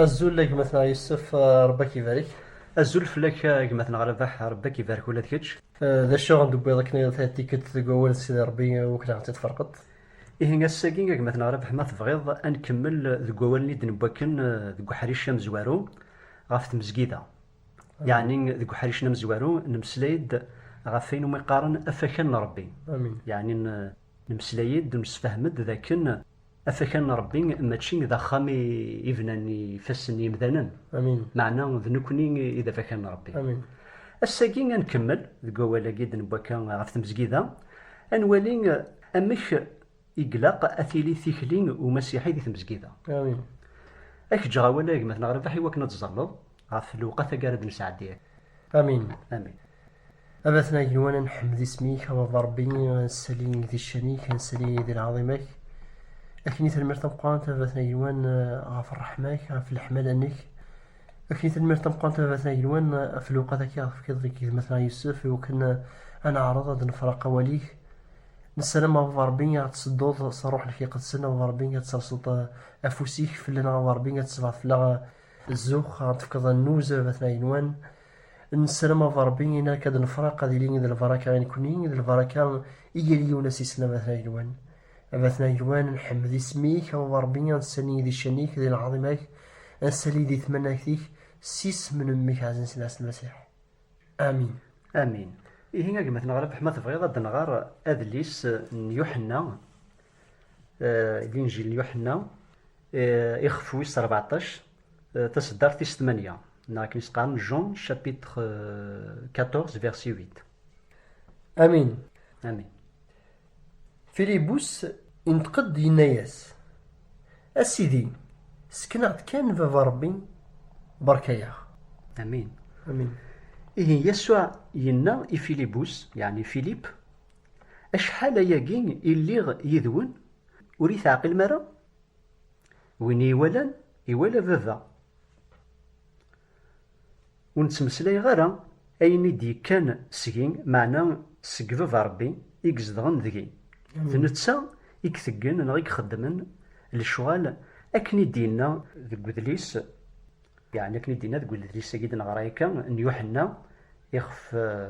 Azul a gma-tneɣ Yusef, Rebbi ak ibarek. Azul fell-ak a gma-tneɣ Rabaḥ, Rebbi ak ibarek ula d kečč. D acu i ɣ-d-tewwiḍ akken i ɣ-d-tɛeddi tikkelt deg wawal n Sidi Rebbi, wi kra ɣ-tt-id-tferqeḍ? Ihi ass-agi a gma-tneɣ Rabeḥ ma tebɣiḍ ad nkemmel deg wawalen i d-newwi akken deg uḥric amezwaru ɣef tmezgida. Yeɛni deg uḥric-nni amezwaru nemmeslay-d ɣef wayen umi qqaren afakan n Rebbi. Yeɛni nemmeslay-d, nemsefham-d d akken afakan n Rebbi mačči d axxam i bnan ifassen n yimdanen, meɛna d nekkni i d afakan n Rebbi. Ass-agi a nkemmel deg wawal-agi i d-newwi akka ɣef tmezgida, a nwali, Amek i glaq a tili tikli n umasiḥi di tmezgida? Amin. A k-ǧǧeɣ awal a gma-tneɣ Rabaḥ iwakken ad tẓalleḍ ɣef lewqat agi ara d-nesɛeddi akka. Amin. Amin. A batna igenwan a nḥemmed isem-ik, a Baba Rebbi, a nsali di ccan-ik, a nsali di lɛaḍima-k. Akni tanemmirt tameqqrant a batna igenwan ɣef ṛṛeḥma-k, ɣef leḥmala-nnek. Akni tanemmirt tameqqrant a batna igenwan ɣef lewqat-agi ara tefkiḍ deg gma-tneɣ Yusef iwakken a neɛreḍ ad nefṛeq awal-ik. Nessaram a Baba Ṛebbi ad ɣ-d-tsedduḍ s Ṛṛuḥ-ik Iqedsen, a Baba Ṛebbi ad terseḍ afus-ik fell-aneɣ, a Baba Ṛebbi ad tsebɛeḍ fell-aɣ zzux, ad ɣ-d-tefkeḍ annuz, a Batna Igenwan. Nessaram a Baba Ṛebbi ayen ara k-d-nefṛeq ad yili d lbaraka i nekkni, d lbaraka i yal yiwen as-isel, a Batna Igenwan. A Batna Igenwan, nḥemmed isem-ik, a Baba Ṛebbi ad nessali di ccan-ik, di lɛaḍima-k, ad nessali di tmanagt-ik, s isem n Mmi-k ɛzizen s Lɛisa n Lmasiḥ. Amin. Amin. Ihi a gma-tneɣ Rabeḥ ma tebɣiḍ ad nɣer adlis n Yuḥenna, Linjil n Yuḥenna, ixef wis rbeɛṭac, taseddart tis tmanya, neɣ akken i s-qqaren Jean chapitre 14 verset 8. Amin. Amin. Filibus inṭeq-d yenna-yas, A Sidi, sken-aɣ-d kan Baba Ṛebbi, beṛka-yaɣ. Amin. Amin. Ihi Yasuɛ yenna i Filibus, yeɛni Filip, Acḥal ayagi i lliɣ yid-wen, ur iyi-teɛqilem ara? Win i yi-iwalan, iwala Baba. Ur nettmeslayeɣ ara ayen i d-yekkan seg-i, meɛna seg Baba Ṛebbi i izedɣen deg-i. D netta i iteggen neɣ i ixeddmen lecɣal akken i d-yenna deg udlis, yeɛni akken i d-yenna deg udlis-agi i d-neɣra akka, n Yuḥenna, ixef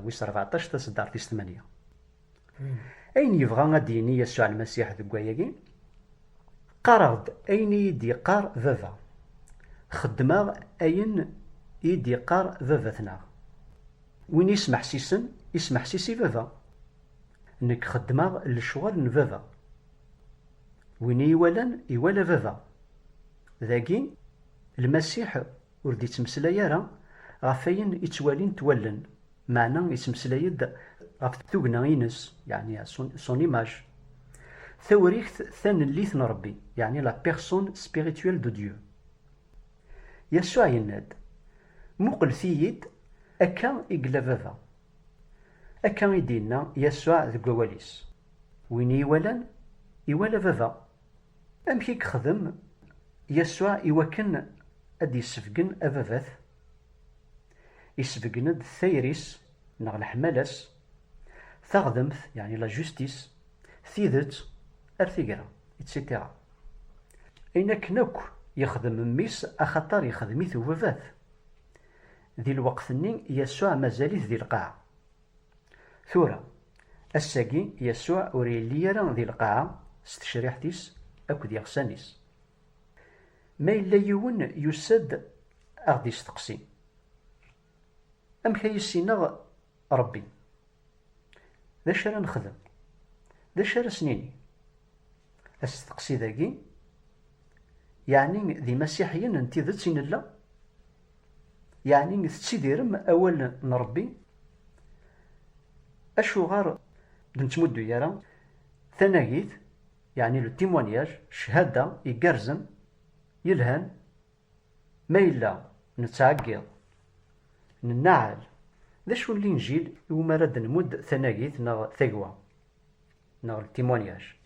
wis ṛbeɛṭac, taseddart-is tmanya. Ayen yebɣa ad d-yini Yasuɛ Lmasiḥ deg wayagi, Qqareɣ-d ayen i yi-d-yeqqar Baba. Xeddmeɣ ayen i yi-d-yeqqar Baba-tneɣ. Win i yi-smeḥsisen, ismeḥsis i Baba. Nekk xeddmeɣ lecɣal n Baba. Win i yi-iwalan, iwala Baba. Dagi, Lmasiḥ Ur d-ittmeslay ara ɣef wayen i ttwalint wallen, meɛna ittmeslay-d ɣef tugna-ines, yeɛni son image, tawrikt tanellit n Rebbi, yeɛni la personne spirituelle de Dieu. Yasuɛ yenna-d, Muqlet-iyi-d, akka i yella Baba. Akka i d-yenna Yasuɛ deg wawal-is, Win i yi-iwalan, iwala Baba. Amek i yexdem Yasuɛ iwakken ad d-yessebgen ababat? Isebgen-d tayri-s neɣ leḥmala-s, taɣdemt, yeɛni la justice, tidet, ar tigra, icetira. Ayen akken akk yexdem mmi-s axaṭer yexdem-it ubabat. Di lweqt-nni Yasuɛ mazal-it di lqaɛa. Tura, ass-agi, Yasuɛ ur yelli ara di lqaɛa s tecriḥt-is akked yiɣsan-is. Ma yella yiwen yusa-d a ɣ-d-isteqsi, Amek ay issineɣ Ṛebbi? D acu ara nexdem? D acu ara as-nini? Asteqsi dagi, Yeɛni d imasiḥiyen n tidet i nella? Yeɛni tettidirem awal n Ṛebbi? Acuɣer d nettmuddu ara tanagit, yeɛni le témoignage, cchada, igerrzen, yelhan, ma yella nettɛeggiḍ, nennaɛel? D acu n linjil iwumi ara d-nmudd tanagit neɣ tagwa? neɣ le témoignage.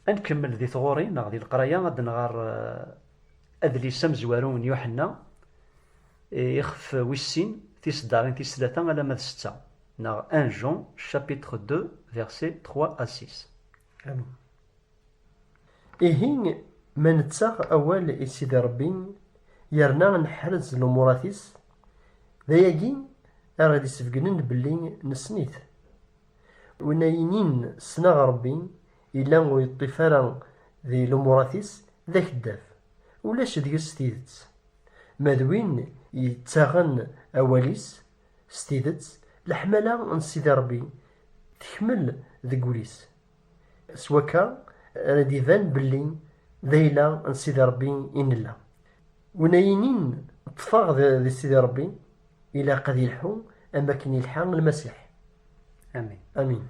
Ad nkemmel di tɣuri neɣ di leqraya ad nɣer eh, adlis amezwaru n Yuḥenna eh, ixef wis sin tiseddarin tis tlata alamma d setta neɣ 1 Jean chapitre 2 verset 3 à 6. Amin. Ihi ma nettaɣ awal i Sidi Ṛebbi yerna neḥrez lumurat-is, d ayagi ara d-isbegnen belli nessen-it. Win ay inin ssneɣ Ṛebbi, yella ur yeṭṭif ara di lumurat-is, d akeddaf, ulac deg-s tidet. Ma d win yettaɣen awal-is s tidet, leḥmala n Sidi Ṛebbi tekmel deg wul-is, S wakka ara d-iban belli d ayla n Sidi Ṛebbi i nella. Win ay inin ṭṭfeɣ di Sidi Ṛebbi, ilaq ad yelḥu am wakken yelḥa Lmasiḥ. Amin. Amin.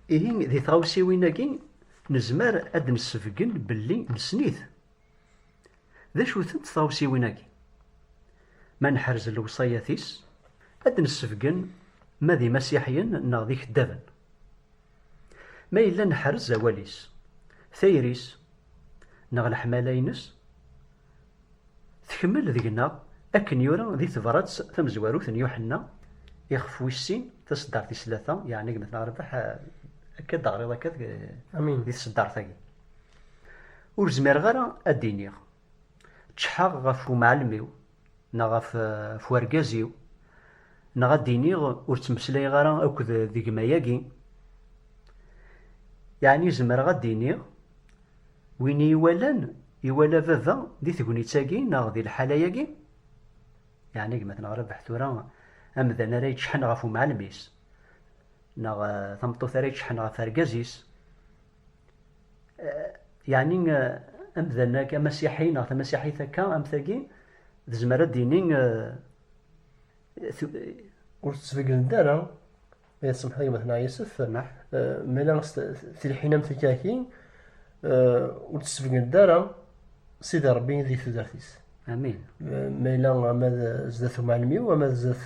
Ihi di tɣawsiwin-agi nezmer ad d-nessebgen belli nessen-it. D acu-tent tɣawsiwin-agi? Ma neḥrez lewṣayat-is, ad d-nessebgen ma d imasiḥiyen neɣ d ikeddaben. Ma yella neḥrez awal-is, tayri-s neɣ leḥmala-ines, tekmel deg-neɣ akken yura di tebrat tamezwarut n Yuḥenna ixef wis sin, taseddart tis tlata, yeɛni gma-tneɣ Rrbeḥ, akka d-teɣriḍ akka di tseddart-agi. Ur zmireɣ ara ad d-iniɣ ččḥeɣ ɣef wemɛellem-iw, neɣ ɣef, ɣef urgaz-iw, neɣ ad d-iniɣ ur ttmeslayeɣ ara akked d gma-agi, yeɛni zemreɣ ad d-iniɣ win i iwalan iwala baba di tegnit-agi neɣ di lḥala-agi? Yeɛni gma-t neɣ Rabeḥ tura amdan ara yeččḥen ɣef umɛalem-is, neɣ tameṭṭut ara yeččḥen ɣef urgaz-is, Yeɛni amdan ak, amasiḥi neɣ tamasiḥit akka am tagi, tezmer ad d-tini ur tettbeggneḍ ara ay tsemḥeḍ gma tneɣ yisef mala tilḥin am tikaki ur tettbeggneḍ ara sidi rebbi di tudert-is amin ma yella ama d zdat umɛelmi-w ama d zdat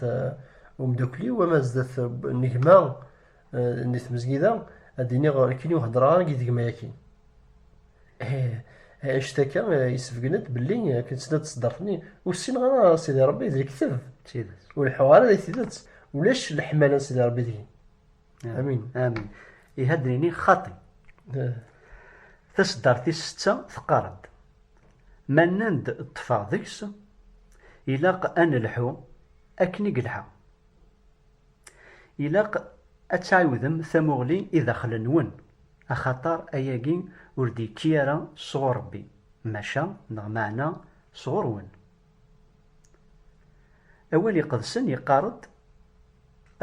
umdakli-w ama d zdat negma Di tmezgida, ad d-iniɣ akken ur heddreɣ ara yid-k ma akin. Anect akka yessebgen-d belli akken tt-d ṣeddreɣ-ten-i, ur ssineɣ ara a Sidi Ṛebbi d lekteb. D tidet. Ur leḥḥuɣ ara di tidet, ulac leḥmala n Sidi Ṛebbi deg-i. Amin. Amin. Ihi ad d-nini xaṭi. Taṣeddart tis setta teqqar-d, Ma nnan-d ṭṭfeɣ deg-s, ilaq ad nelḥu akken i yelḥa. Ilaq ad tɛiwdem tamuɣli i daxel-nwen, axaṭer ayagi ur d-yekki ara sɣur Ṛebbi, maca neɣ meɛna sɣur-wen. Awal Iqedsen yeqqar-d,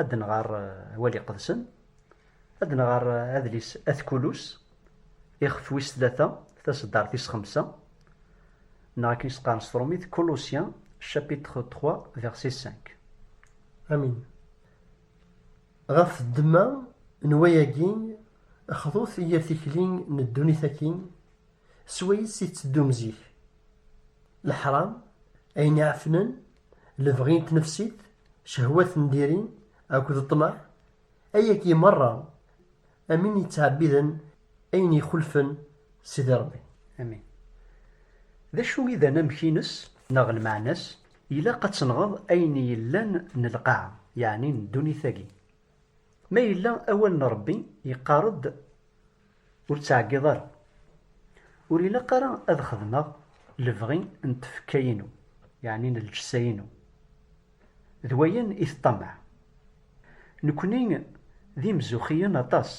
ad nɣer Awal Iqedsen, ad nɣer adlis At Kulus, ixef wis tlata, taseddart tis xemsa, neɣ akken i s-qqaren s tṛumit, Colossiens, chapitre trois, verset cinq. Amin. Ɣef ddemma n wayagi, xḍut i yir tikli n ddunit akkin, s wayes i tetteddum zik. Leḥram, ayen iɛefnen, lebɣi n tnefsit, cehwat n diri akked ṭṭmeɛ, ayagi merra am win yettɛebbiden ayen ixulfen Sidi Ṛebbi. Amin. D acu i d anamek-ines neɣ lmeɛna-s? Ilaq ad tenɣeḍ ayen yellan n lqaɛa, yeɛni n ddunit-agi. Ma yella awal n Ṛebbi yeqqar-d ur ttɛeggiḍ ara. Ur ilaq ara ad xedmeɣ lebɣi n tfekka-inu, yeɛni n lǧessa-inu. D wayen i teṭṭamaɛ. Nekkni d imzuxxiyen aṭas.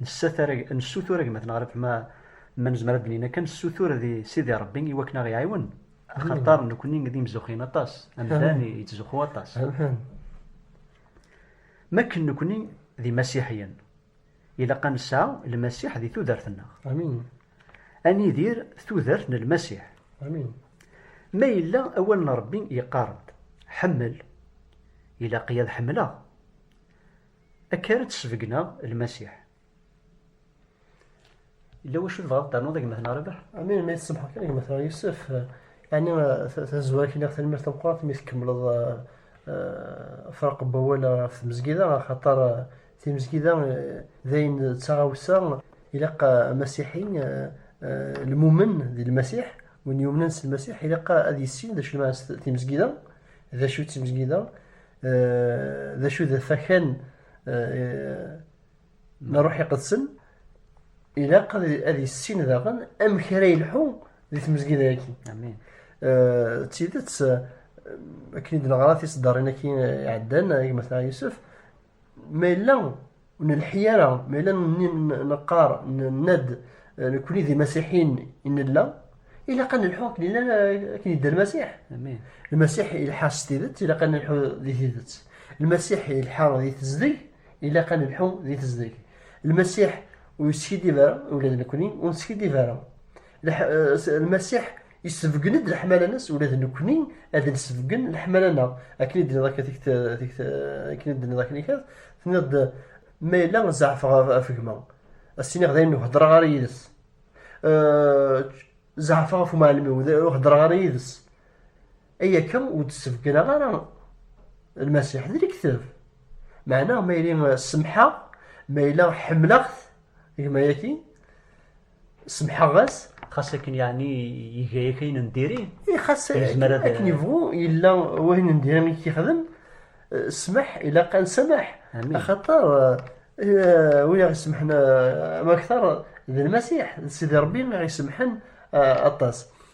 Nessutur a gma Tenɣriwt ma nezmer ad d-nini akka, nessutur di Sidi Rebbi i wakken a ɣ-iɛiwen, axaṭer nekkni d imzuxxiyen aṭas, amdan yettzuxxu aṭas. M akken nekkni d imasiḥiyen. Ilaq a nesɛa Lmasiḥ di tudert-nneɣ. Amin. A nidir tudert n Lmasiḥ. Amin. Ma yella awal n Ṛebbi yeqqar-d, Ḥemmel, ilaq-iyi ad ḥemmleɣ. Akka ara d-sbegneɣ Lmasiḥ. Yella wacu tebɣaḍ ad ternuḍ a gma-tneɣ a Rabeḥ? Amin, ma yi-tsemḥeḍ kan a gma-tneɣ Yusef, ɛni tazwara kniɣ tanemmirt tameqqrant mi tkemmleḍ afraq n wawal ɣef tmezgida, axaṭer timezgida d ayen d taɣawsa ilaq amasiḥi lmumen di Lmasiḥ, win yumnen s Lmasiḥ ilaq ad yissin d acu lmeɛna n timezgida, d acu d timezgida, d acu d afakan i n Ṛṛuḥ Iqedsen, ilaq ad issin daɣen amek ara yelḥu di tmezgida-agi. Amin. D tidet, akken i d-neɣra tiseddarin-agi iɛeddan, gma Tɛa Yusef, ma yella ur nelḥi ara, ma yella neqqar, nenna-d, nekkni d imasiḥiyen i nella, ilaq ad nelḥu akken yella, akken yedda Lmasiḥ. Amin. Lmasiḥ ilḥa s tidet, ilaq ad nelḥu di tidet. Lmasiḥ ilḥa di tezdeg, Ilaq ad nelḥu di tezdeg. Lmasiḥ ur yeskiddib ara, ula d nekkni ur neskiddib ara. Eh, Lmasiḥ yessebgen-d leḥmala-nnes, ula d nekkni ad nessebgen leḥmala-nneɣ. Akken i d-tenniḍ akka tikt, tikt, akken i d-tenniḍ akken ikat, tenniḍ-d ma yella zeɛfeɣ ɣef gma, as-tiniɣ dayen ur heddreɣ ara yid-s. Eh, zeɛfeɣ ɣef umɛellem-iw, ur heddreɣ ara yid-s. Ay akka ur d-ssebgraɣ ara Lmasiḥ d lekteb. Meɛna ma yili semḥeɣ, ma yella ḥemmleɣ-t, gma-yaki, semḥeɣ-as, xas akken yeɛni iga yak ayen n diri eh, xas akken yebɣu yella wayen n diri i k-yexdem ssmaḥ eh, ilaq ad nsamaḥ axaṭer eh, win iɣ-isemḥen ma akteṛ d lmasiḥ d sidi ṛebbi iɣ-isemḥen aṭas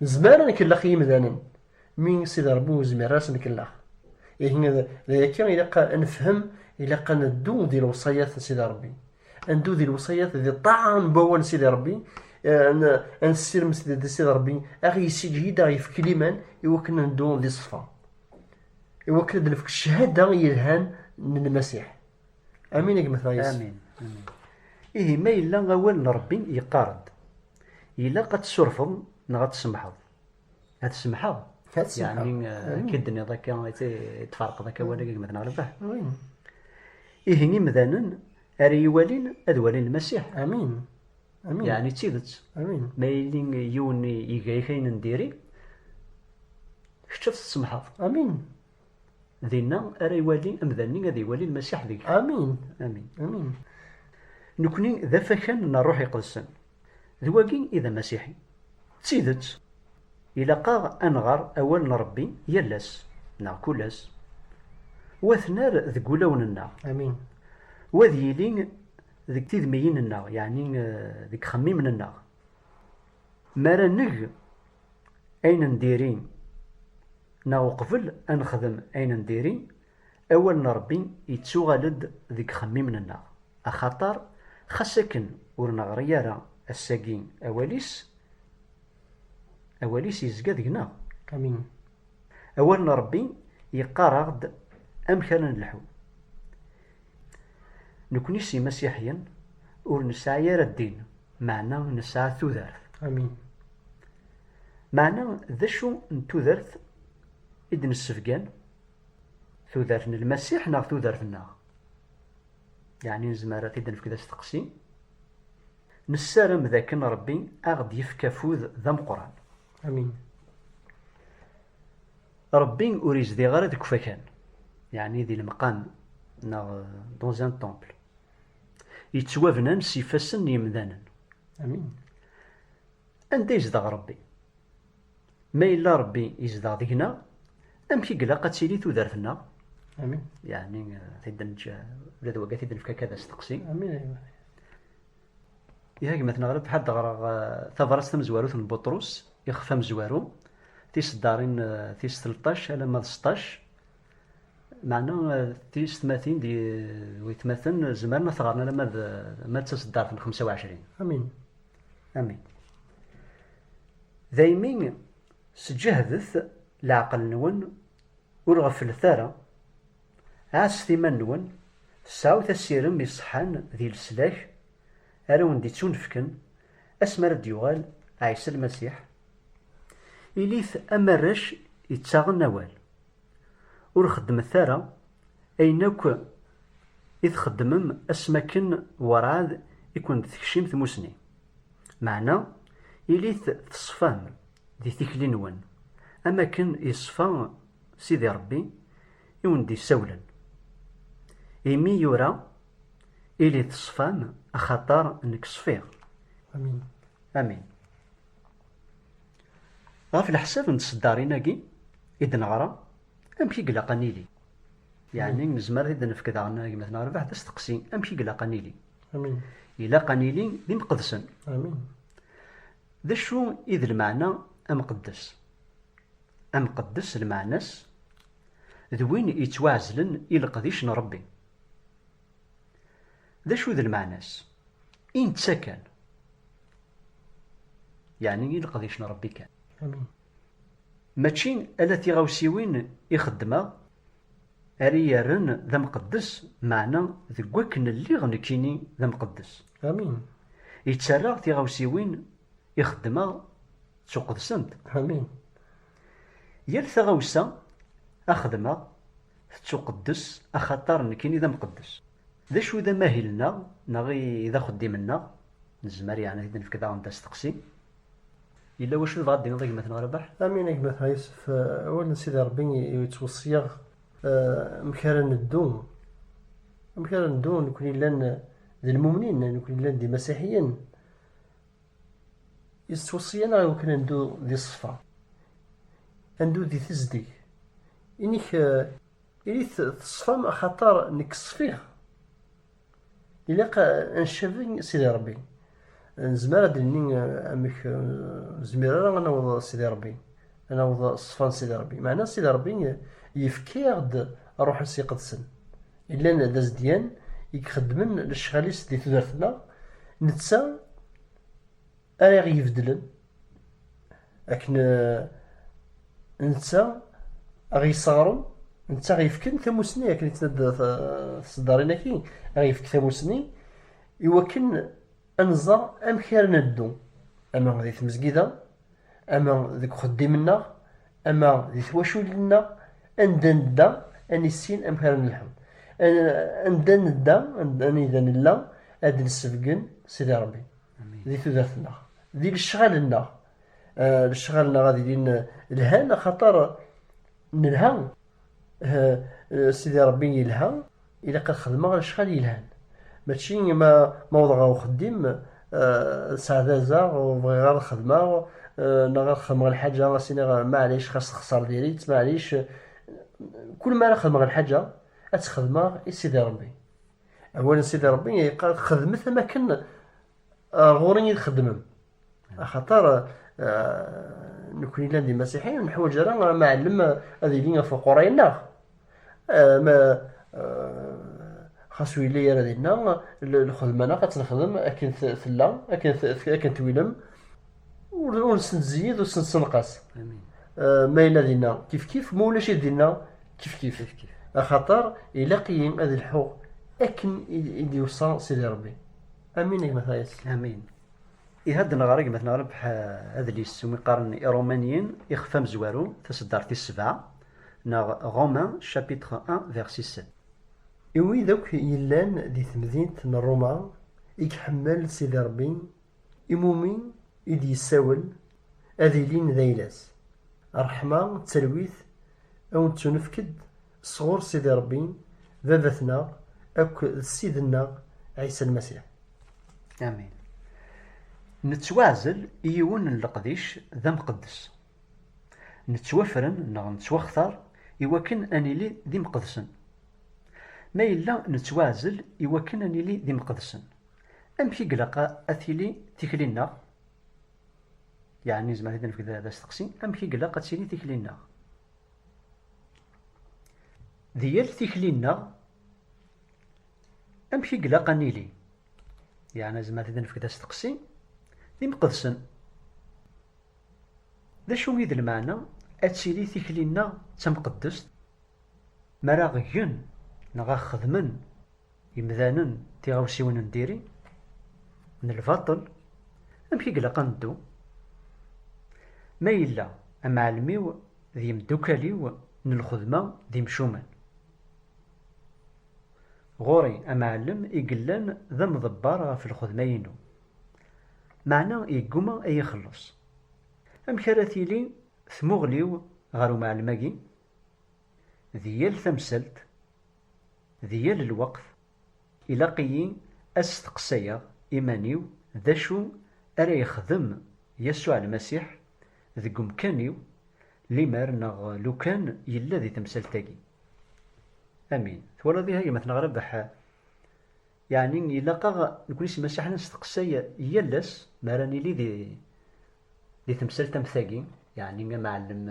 Nezmer ad nkellex i yimdanen, mi Sidi Ṛebbi ur nezmir ara ad s-nkellex. Ihi d ayakka ilaq ad nefhem, ilaq ad neddu di lewṣayat n Sidi Ṛebbi. Ad neddu di lewṣayat, di ṭṭaɛa n wawal n Sidi Ṛebbi, ad nessirem di Sidi Ṛebbi ad ɣ-yessiǧhid, ad ɣ-yefk liman i wakken ad neddu di ṣṣfa. I wakken ad nefk cchada yelhan n Lmasiḥ. Amin a gma Tayes. Amin. Ihi ma yella awal n Ṛebbi yeqqar-d. Ilaq ad tsurfeḍ neɣ ad tsemḥeḍ. Ad semḥeɣ. Ad semḥeɣ. Yeɛni eh, mm. k-id-nniḍ akka, tfarqeḍ akka wala gma-tneɣ mm. Rebah. Ihi imdanen ara iwalin ad walin Lmasiḥ. Amin. Amin. Yeɛni d tidet. Amin. Ma yili yiwen iga-yak ayen n diri, kečč ad t-tsemḥeḍ. Amin. Dinna ara iwali amdan-nni ad iwali Lmasiḥ deg. Amin. Amin. Amin. Nekni d afakan n Rruḥ Iqedsen. D wagi i d amasiḥi. D tidet, ilaq-aɣ ad nɣer Awal n Ṛebbi yal ass, neɣ kul ass, u ad t-nerr deg wulawen-nneɣ. Amin. U ad yili deg tidmiyin-nneɣ, yeɛni deg ixemmimen-nneɣ. Mi ara neg ayen n diri neɣ uqbel ad nexdem ayen n diri, awal n Ṛebbi yettuɣal-d deg ixemmimen-nneɣ, axaṭer xas akken ur neɣri ara ass-agi awal-is, awal-is yezga deg-neɣ. Amin. Awal n Ṛebbi yeqqar-aɣ-d amek ara nelḥu. Nekkni s Imasiḥiyen ur nesɛi ara ddin Meɛna nesɛa tudert. Amin. Meɛna d acu n tudert i d-nessebgan? Tudert n Lmasiḥ neɣ tudert-nneɣ? Yeɛni nezmer ad t-id-nefk d asteqsi. Nessaram d akken Ṛebbi a ɣ-d-yefk afud d ameqqran. Amin. Ṛebbi ur izdiɣ ara deg ufakan, yeɛni di lemqam neɣ dans un temple. yettwabnan s ifassen n yemdanen. Amin. Anda yezdeɣ Rebbi? Ma yella Rebbi yezdeɣ deg-neɣ, amek i ilaq ad tili tudert-nneɣ? Amin. Yeɛni tid neǧǧ ula d wagat i d-nefka akka d asteqsi. Amin. Iha gma-tneɣ Rebbi ḥad ɣreɣ tabrat tamezwarut n Buṭrus, ixef amezwaru, tiseddarin tis tleṭṭac alamma d seṭṭac, Meɛna tiyessetmatin d waytmaten zemren ad t-ɣren alamma d ma d taseddart n xemsa u ɛecrin. Amin. Amin. Daymi sǧehdet leɛqel-nwen, ur ɣefflet ara, ɛasset iman-nwen, sɛut asirem iṣeḥḥan di leslak ara wen-d-ittunefken asmi ara d-yuɣal Ɛisa Lmasiḥ, ilit am arrac ittaɣen awal. Ur xeddmet ara ayen akk i txeddmem ass mi akken werɛad i ken-d-tekcim tmusni. Meɛna ilit teṣfam di tikli-nwen am akken yeṣfa Sidi Rebbi i wen-d-isawlen, imi yura, Ilit ṣfam axaṭer nekk ṣfiɣ. Amin. Amin. Ɣef leḥsab n tseddarin-agi i d-neɣra, amek i ilaq ad nili? Yeɛni nezmer ad d-nefk daɣen gma-ten Rrbeḥ d asteqsi, amek i ilaq ad nili? Amin. Ilaq ad nili d imqedsen. Amin. D acu i d lmeɛna amqeddes? Amqeddes lmeɛna-s d win yettwaɛezlen i leqdic n Ṛebbi. D acu d lmeɛna-s? I netta kan, yeɛni i leqdic n Rebbi kan. Amin. Mačči ala tiɣawsiwin i xeddmeɣ ara iyi-rren d amqeddes, meɛna deg wakken lliɣ nekkini d amqeddes. Amin. Yettarra tiɣawsiwin i xeddmeɣ ttuqedsent. Amin. Yal taɣawsa a xedmeɣ Tettuqeddes axaṭer nekkini d amqeddes. D acu i d amahil-nneɣ neɣ i d axeddim-nneɣ? Nezmer yeɛni ad t-id-nefk daɣen d asteqsi. Yella wacu tebɣa ad d-tiniḍ a gma-tneɣ Rabaḥ? Amin a gma-tneɣ Yusef, awal n Sidi Ṛebbi yettweṣṣi-aɣ amek ara neddu, amek ara neddu nekkni llan d lmumnin, nekkni llan d imasiḥiyen, yettweṣṣi-aneɣ i wakken ad neddu di ṣṣfa, ad neddu di tezdeg, Inik ilit teṣfam axaṭer nekk ṣfiɣ. Ilaq ad ncabi Sidi Ṛebbi. Nezmer ad d-nini amek ur nezmir ara ad naweḍ Sidi Ṛebbi, ad naweḍ ṣṣfa n Sidi Ṛebbi. Meɛna Sidi Ṛebbi yefka-aɣ-d Ṛṛuḥ-is Iqedsen. Yellan d azedyan i ixeddmen lecɣal-is di tudert-nneɣ, netta ara aɣ-ibeddlen akken eh, netta aɣ-yesseɣren netta aɣ-yefken tamusni akken yettnadda tseddarin-agi aɣ-yefk tamusni iwakken ad nẓer amek ara neddu ama di tmezgida ama deg uxeddim-nneɣ ama di twaculin-nneɣ anda nedda ad nissin amek ara nelḥu anda nedda anda nella ad d-nsebgen Sidi Ṛebbi di tudert-nneɣ, di lecɣal-nneɣ. Eh, lecɣal-nneɣ ad ilin eh, lhan axaṭer eh, nelha. Sidi Ṛebbi yelha, ilaq ad xedmeɣ lecɣal yelhan. Mačči ma ma wḍeɣ ɣer uxeddim sɛdazeɣ ur bɣiɣ ara ad xedmeɣ neɣ ad xedmeɣ lḥaǧa as iniɣ maɛlic xas texṣer diri-tt maɛlic. Kul mi ara xedmeɣ lḥaǧa ad tt-xedmeɣ i Sidi Ṛebbi. Awal n Sidi Ṛebbi yeqqar xedmet am akken ar ɣur-i i txeddmem. Axaṭer nekkni llan d imasiḥiyen ur neḥwaǧ ara amɛellem ad yili ɣef uquray-nneɣ. Ma xas ur yelli ara dinna, lxedma-nneɣ ad tt-nexdem akken tella, akken twilem. ur nesneziyid ur sensenqas ma yella dinna kifkif ma ulac dinna kifkif axaṭer ilaq-iyi ad lḥuɣ akken i d-iwṣa Sidi Rebbi amin gma tayes amin ihadden ɣer gma tneɣreb adlis umi qqaren irumaniyen ixef amezwaru taseddart tis sebɛa neɣ Romain chapitre 1 verset 7 i wid akk yellan di temdint n Roma i iḥemmel Sidi Rebbi Imumi i d-yessawel ad ilin d ayla-s. Ṛṛeḥma d talwit a wen-ttunefk-d sɣur Sidi Ṛebbi, Baba-tneɣ akk d Ssid-nneɣ Ɛisa Lmasiḥ. Amin. Nettwaɛzel i yiwen n leqdic d amqeddes. Nettwafren neɣ nettwaxtar i wakken a nili d imqedsen. Ma yella nettwaɛzel i wakken a nili d imqedsen, Amek i ilaq ad tili tikli-nneɣ? Yeɛni nezmer ad nefk d asteqsi, amek i ilaq ad tili tikli-nneɣ? Di yal tikli-nneɣ, amek i ilaq ad nili? Yeɛni nezmer ad nefk d asteqsi, d imqedsen. D acu i d lmeɛna ad tili tikli-nneɣ d tamqeddest? Mi ara aɣ-gen neɣ aɣ-xedmen Imdanen d tiɣawsiwin n diri, n lbaṭel, amek i ilaq ad neddu? Ma yella amɛellem-iw d yemdukal-iw n lxedma d imcumen. Ɣur-i amɛellem i yellan d amḍebber ɣef lxedma-inu, meɛna yegguma ad iyi-ixelleṣ. Amek ara tili tmuɣli-w ɣer umɛellem-agi? Di yal tamsalt, di yal lweqt, ilaq-iyi ad steqsayeɣ iman-iw d acu ara yexdem Yasuɛ Lmasiḥ deg umkan-iw limer neɣ lukan yella di temsalt-agi. Amin. Twalaḍ ihi a gma-tneɣ Rabeḥ? Yeɛni ilaq-aɣ nekkni s imassiḥen ad nesteqsay yal ass mi ara nili di di temsalt am tagi, yeɛni amɛellem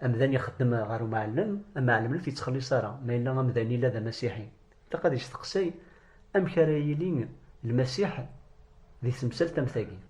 amdan ixeddem ɣer umɛellem, amɛellem ur t-yettxelliṣ ara, ma yella amdan ila d amasiḥi ilaq ad yesteqsay amek ara yili lmasiḥ di temsalt am tagi.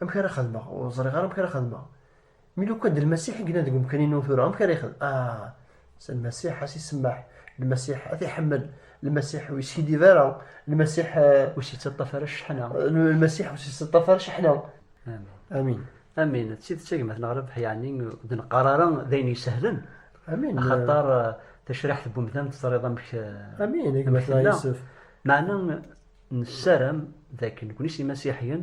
amek ara xedmeɣ ur ẓriɣ ara amek ara xedmeɣ mi lukan d lmasiḥ i yellan deg umkan-inu tura amek ara yexdem ah s lmasiḥ a s-isemmaḥ lmasiḥ ad t-iḥemmel lmasiḥ ur yeskiddib ara lmasiḥ ur s-yettaṭṭaf ara cceḥna lmasiḥ ur s-yettaṭṭaf ara cceḥna amin amin d tidet agmat neɣ rrbeḥ yeɛni d neqqar ara d ayen isehlen amin axaṭar tacriḥt n umdan teẓriḍ amek amin agmat neɣ yusef meɛna nessaram dakken nekni s imasiḥiyen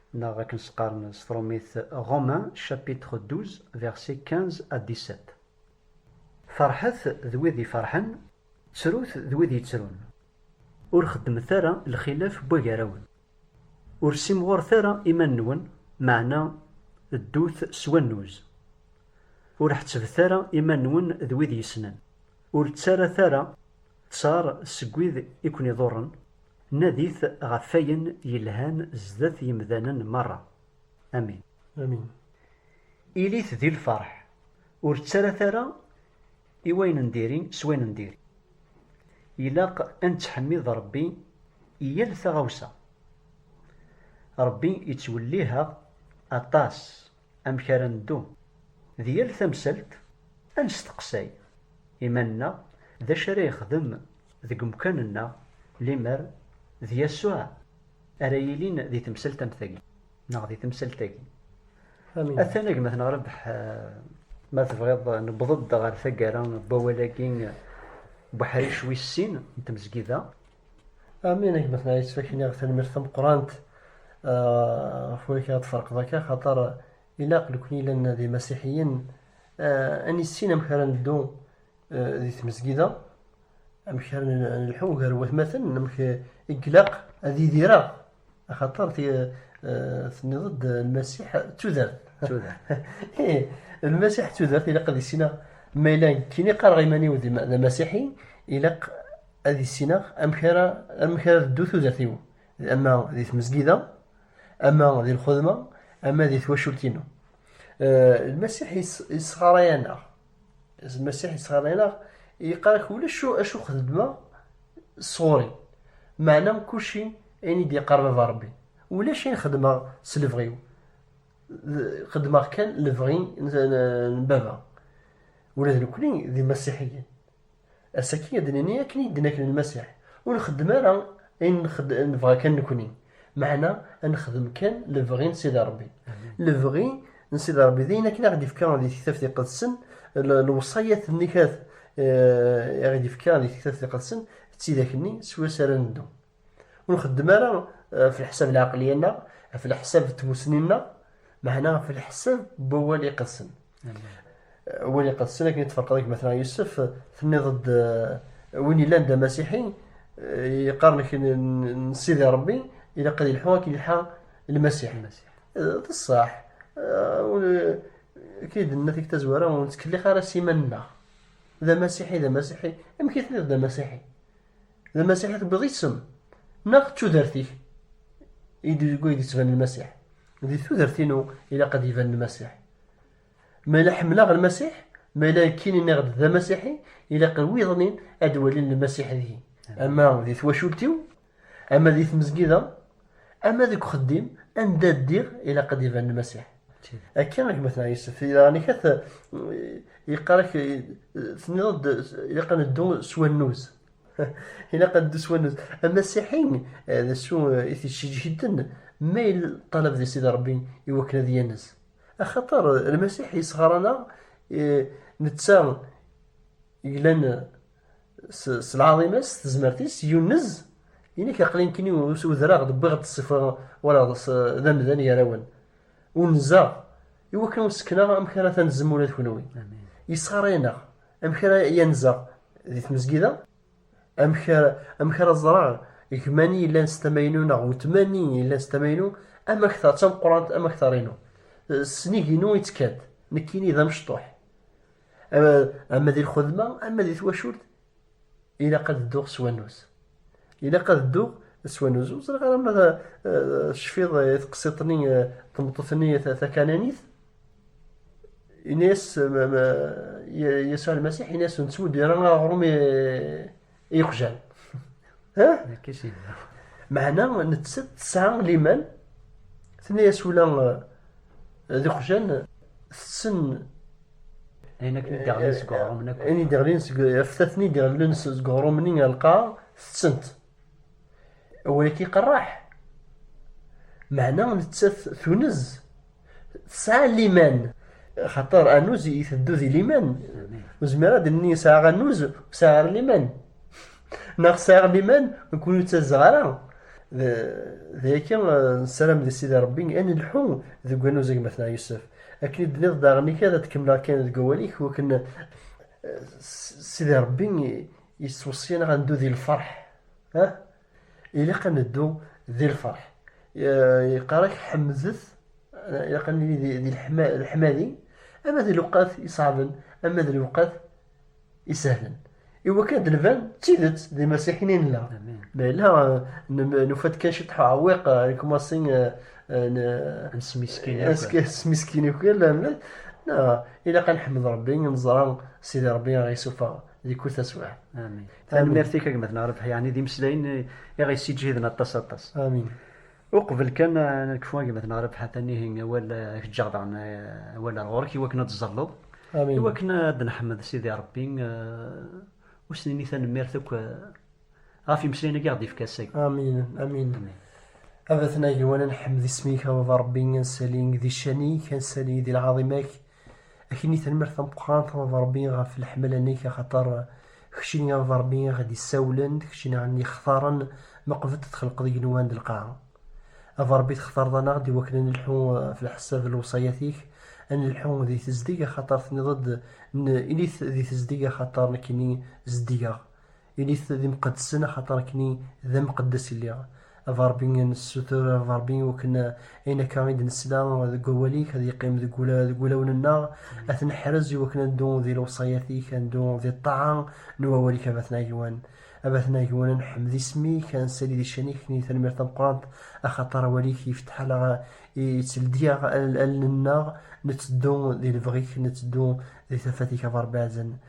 Neɣ akken s-qqaren s trumit, Romains chapitre 12 versets 15 à 17. Ferḥet d wid iferḥen, ttrut d wid yettrun. Ur xeddmet ara lxilaf n wagarawen. Ur ssimɣuret ara iman-nwen, meɛna ddut s wannuz. Ur ḥettbet ara iman-nwen d wid yessnen, ur ttarat ara Ttar seg wid i ken-iḍurren, nadit ɣef wayen yelhan zdat yemdanen merra. Amin. Amin. Ilit di lferḥ, ur ttarat ara i wayen n diri s wayen n diri. Ilaq ad nettḥemmid Rebbi i yal taɣawsa. Rebbi ittwelliheɣ aṭas. amek ara neddu. Di yal tamsalt, ad nesteqsay iman-nneɣ d acu ara yexdem deg umkan-nneɣ limer d Yasuɛ ara yilin di temsalt am tagi neɣ di temsalt-agi. Atan agmatneɣ Rabeḥ, ma tebɣiḍ newweḍ-d ɣer taggara n wawal-agi n uḥric wis sin n tmezgida. Amin a gma-tneɣ yettfaken iɣ tanemmirt tameqqrant ɣef wamek ara tferqeḍ akka xaṭer ilaq nekni yellan d imasiḥiyen ad nissin amek ara neddu di tmezgida amek ara nelḥu gar watmaten amek i ilaq ad idireɣ axaṭer tenniḍ-d lmasiḥ d tudert eh, lmasiḥ d tudert ilaq ad issineɣ ma yella kini qqareɣ iman-iw d amasiḥi ilaq ad issineɣ amek ara amek ara teddu tudert-iw ama di tmezgida ama di lxedma ama di twacult-inu eh, lmasiḥ yesɣaray-aneɣ Zmasiḥ yettɣalayenaɣ, yeqqar-ak ulac acu xedmeɣ sɣur-i, meɛna kulci ayen i d-yeqqar baba Rebbi, ulac ayen xedmeɣ s lebɣi-w, xedmeɣ kan lebɣi n baba. Ula d nekkni d imasiḥiyen, Ass-agi ad d-nini akken i d-nekk d Lmasiḥ, ur nxeddem ara ayen nebɣa kan nekni, meɛna ad nexdem kan lebɣi n Sidi Rebbi. Lebɣi n Sidi Rebbi d ayen akken i aɣ-d-ifka di Tektabt Iqedsen, lewṣayat nni i aɣ-d-ifka di Tektabt Iqedsen, d tidak-nni swayes ara neddu. ur nxeddem ara ɣef leḥsab n lɛaqliya-nneɣ ɣef leḥsab n tmussni-nneɣ meɛna ɣef leḥsab n wawal iqedsen wawal iqedsen akken i tferqeḍ deg Matna Yusef tenniḍ-d win yellan d amasiḥi yeqqaren kra n Sidi Rebbi ilaq ad yelḥu akken yelḥa lmasiḥ d ṣṣeḥ akken i d-nenna tikta zwara ur nettkelliq ara s iman-nneɣ d amasiḥi d amasiḥi amek i tenniḍ d amasiḥi D Lmasiḥ i tewwiḍ isem neɣ d tudert-ik i deg ay d-yettban Lmasiḥ? Di tudert-inu ilaq ad d-iban Lmasiḥ. Ma yella ḥemmleɣ Lmasiḥ, ma yella akin i nniɣ-d d Amasiḥi, ilaq i wiḍen-in ad d-walin Lmasiḥ deg-i. Ama di twacult-iw, ama di tmezgida, ama deg uxeddim, anda ddiɣ ilaq ad d-iban Lmasiḥ. Akka i gma-tneɣ Yusef, di daɣen-ik ad yeqqar-ak, tenniḍ-d ilaq ad neddu s wannuz. ilaq ad neddu s wannuz amasiḥi eh, d acu eh, i t-iceǧhiden ma yella ṭṭalab di sidi rebbi i wakken ad yanes axaṭer eh, lmasiḥ yesɣer-aneɣ netta glan s lɛaḍima-s s tezmert-is yunez inek aqlin kini udraɣ-d wwiɣ-d ṣṣifa wala d amdan gar-awen unzeɣ i wakken ur sekneɣ amek ara tanzem ula d kenwi yesɣar-aneɣ Amek ara yanzeɣ di tmezgida? Amek ara, amek ara ẓreɣ gma-ni yellan s tama-inu neɣ wetma-ni yellan s tama-inu? Ama kta d tameqqrant, ama kta inu S nnig-inu yettkan-d, nekkini d amecṭuḥ. Ama di lxedma, ama di twacult, ilaq ad dduɣ s wannus. Ilaq ad dduɣ s wanuz. Ur ẓriɣ ara ma tecfiḍ eh, eh, i teqsiṭ-nni eh, tmeṭṭut-nni takananit. Ini-as Yasuɛ Almasiḥ, ini-as nettmudir aɣrum i yiqjan. Meɛna nettat tesɛa liman, tini-as ula d iqjan tessen ayen akken i d-iɣlin seg uɣrum akk ayen i d-iɣlin seg aftaten i d-iɣlin seg uɣrum-nni ɣer lqaɛa tettent awal-agi qerreḥ meɛna nettat tunez tesɛa liman xaṭer anuz iteddu di liman ur zmireɣ ad nni sɛaɣ anuz ur sɛiɣ ara liman neɣ sɛiɣ liman nekkni ur ttazzɣ ara d ayaki nessaram di sidi rebbi ad nelḥu deg wani uzag matna yusef akken i d-teniḍ daɣen-ik ad tkemmleɣ kan deg wawal-ik wakken sidi rebbi yettweṣṣiyen ad neddu di lferḥ ilaq ad neddu di lferḥ yeqqar-ak ḥemdet ilaq ad nili di leḥmadi ama d lewqat iṣeɛben ama d lewqat isehlen i wakken ad d-nban d tidet d imasiḥin i nella ma yella nufa-d kan ciṭ uɛwiq nekmasi nesmiskin akk ilaq ad neḥmed Rebbi neẓra Sidi Rebbi ad ɣ-yessufeɣ di kul taswiɛt. Amin. Tanemmirt-ik a gma-tneɣ Rabeḥ, yeɛni d imeslayen i ɣ-yessiǧhiden aṭas aṭas. Amin. Uqbel kan ad nekfu agmat neɣ Rebḥa Tanihi, awal ad k-ǧǧeɣ daɣen awal ar ɣur-k iwakken ad tẓalleḍ. Amin. Iwakken ad d-neḥmed Sidi Rebbi, ur s-nini tanemmirt akk ɣef imeslayen-agi i ɣ-d-ifka ass-agi. Amin, amin. A Batnag, iwan ad nḥmed isem-ik, a Baba Rebbi, ad nsali di ccan-ik, ad nsali di lɛaḍima-k. Akkenni tanmirt tameqqrant a Ṛebbi ɣef leḥmala-nnek, axaṭer kečč i a Ṛebbi i ɣ-d-isawlen, d kečč i ɣ-ixtaren ma qbel d-txelqeḍ igenwan d lqaɛa. A Ṛebbi textareḍ-aneɣ-d iwakken a nelḥu ɣef leḥsab n lewṣayat-ik, a nelḥu di tezdeg, axaṭer tenniḍ-d, N, ilit di tezdeg axaṭer nekkini zeddigeɣ. Init d imqeddsen axaṭer akken-i d amqeddes i lliɣ. A Ṛebbi, nessutur a Ṛebbi iwakken ayen akka i d-nesla deg wawal-ik ad yeqqim deg wulawen-nneɣ, ad t-neḥrez iwakken ad neddu di lewṣayat-ik, ad neddu di ṭṭaɛa n wawal-ik a Batna Agwan. A Batna Agwan, ad nḥemmed isem-ik, ad nsali di ccan-ik akken-i tanemmirt tameqqrant axaṭer awal-ik yefteḥ-aɣ itteldi-aɣ allen-nneɣ, netteddu di lebɣi-k, netteddu di tafat-ik a Ṛebbi Ɛezen.